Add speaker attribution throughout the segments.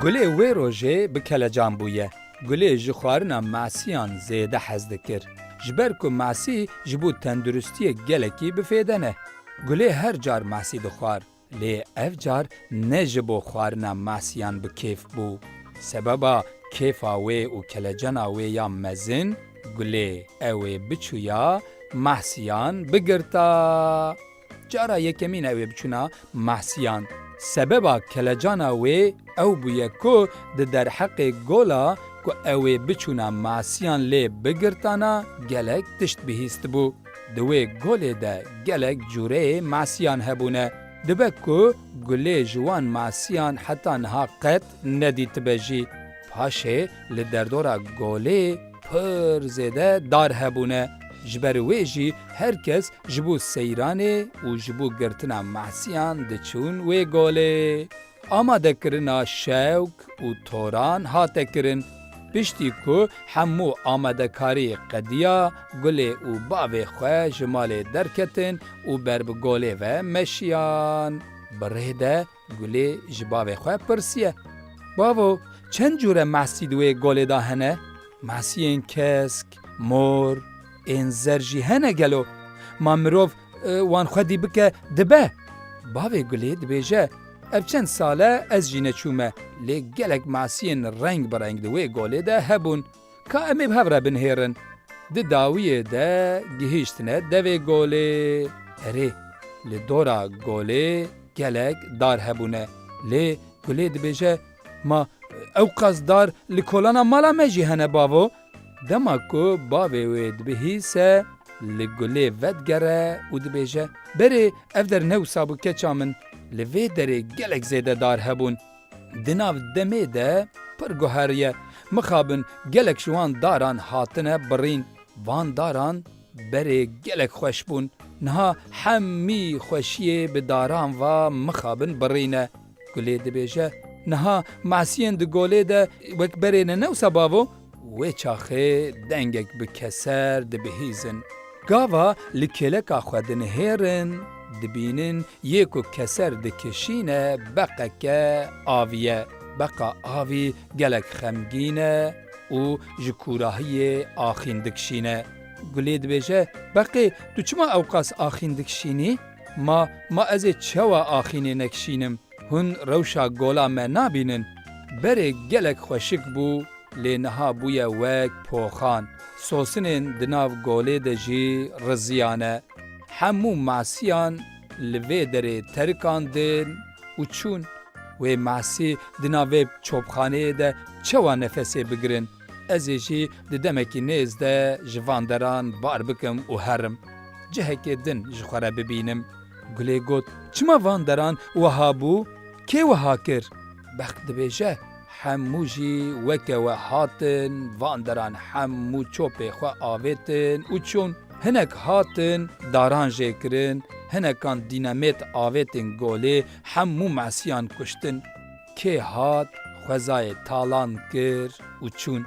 Speaker 1: Gulê wê rojê bi kelecan bûye. Gulê ji xwarina masiyan zêde hez dikir. Ji ber ku masî ji bo tenduristiyê gelekî bi fêde ne. Gulê her car masî dixwar. Lê ev car ne ji bo xwarina Mehsiyan bi kêf bû. Sebeba kêfa wê û kelecena wê ya mezin Gulê ew ê biçûya Mehsiyan bigirta. Cara yekemîn ew ê biçûna Mehsiyan. Sebeba kelecana wê ew bûye ku di derheqê gola ku ew ê biçûna Mehsiyan lê bigirtana gelek tişt bihîstibû. Di wê golê de gelek cureyê masiyan hebûne. Dibe ku gulê ji wan masiyan heta niha qet nedîtibe jî. Paşê li derdora golê pir zêde dar hebûne. Ji ber wê jî her kes ji bo seyranê û ji bo girtina masiyan diçûn wê golê. Amadekirina şewk û toran hate kirin piştî ku hemû amadekarî qediya gulê û bavê xwe ji malê derketin û ber bi golê ve meşiyan. Bi rê de gulê ji bavê xwe pirsiye, Bavo, çend cûre mahsî di wê golê de hene? Mahsiyên kesk, mor, ên zer jî hene gelo? Ma mirov Wan xwedî bike dibe. Bavê Gulê dibêje, Ev çend sale ez jî neçûme, lê gelek masiyên reng bi reng di wê golê de hebûn. Ka em ê bi hev re binihêrin. Di dawiyê de gihîştine devê golê. Erê, li dora golê gelek dar hebûne. Lê Gulê dibêje, Ma ewqas dar li kolana mala me jî hene bavo. Dema ku bavê wê dibihîse, li gulê vedigere û dibêje, Berê ev der ne wisa bû keça min, li vê derê gelek zêde dar hebûn. Di nav demê de pir guher ye. Mixabin gelek ji wan daran hatine birîn. Van daran berê gelek xweş bûn. Niha hemî xweşiyê bi daran va mixabin birîne. Gulê dibêje, Niha masiyên di golê de wek berê ne newsa bavo? Wê çaxê dengek bi keser dibihîzin. Gava li kêleka xwe dinihêrin, dibînin yê ku keser dikişîne beqeke avî ye. Beqa avî gelek xemgîn e û ji kûrahiyê axîn dikişîne. Gulê dibêje, Beqê tu çima ewqas axîn dikişînî? Ma, ma ez ê çewa axînê nekişînim? Hûn rewşa gola me nabînin? Berê gelek xweşik bû lê niha bûye wek poxan. Sosinên di nav golê de jî riziyane. Hemû masiyan li vê derê terikandin û çûn. Wê masî di nav vê çopxaneyê de çewa nefesê bigirin? Ez ê jî di demekî nêz de ji van deran bar bikim û herim. Cihekê din ji xwe re bibînim. Gulê got, Çima van deran wiha bû? Kê wiha kir? Bext dibêje, Hemû jî weke we hatin, van deran hemû çopê xwe avêtin û çûn. Hinek hatin daran jê kirin, hinekan dînemêt avêtin golê, hemû mesiyan kuştin. kê hat xwezayê talan kir û çûn.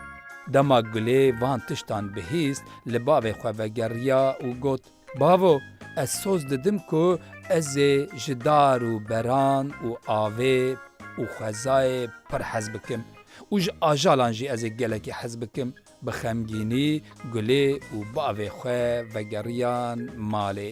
Speaker 1: Dema Gulê van tiştan bihîst li bavê xwe vegeriya û got, Bavo, ez soz didim ku ez ê ji dar û beran û avê û xwezayê pir hez bikim û ji ajalan jî ez ê gelekî hez bikim. Bi xemgînî Gulê û bavê xwe vegeriyan malê.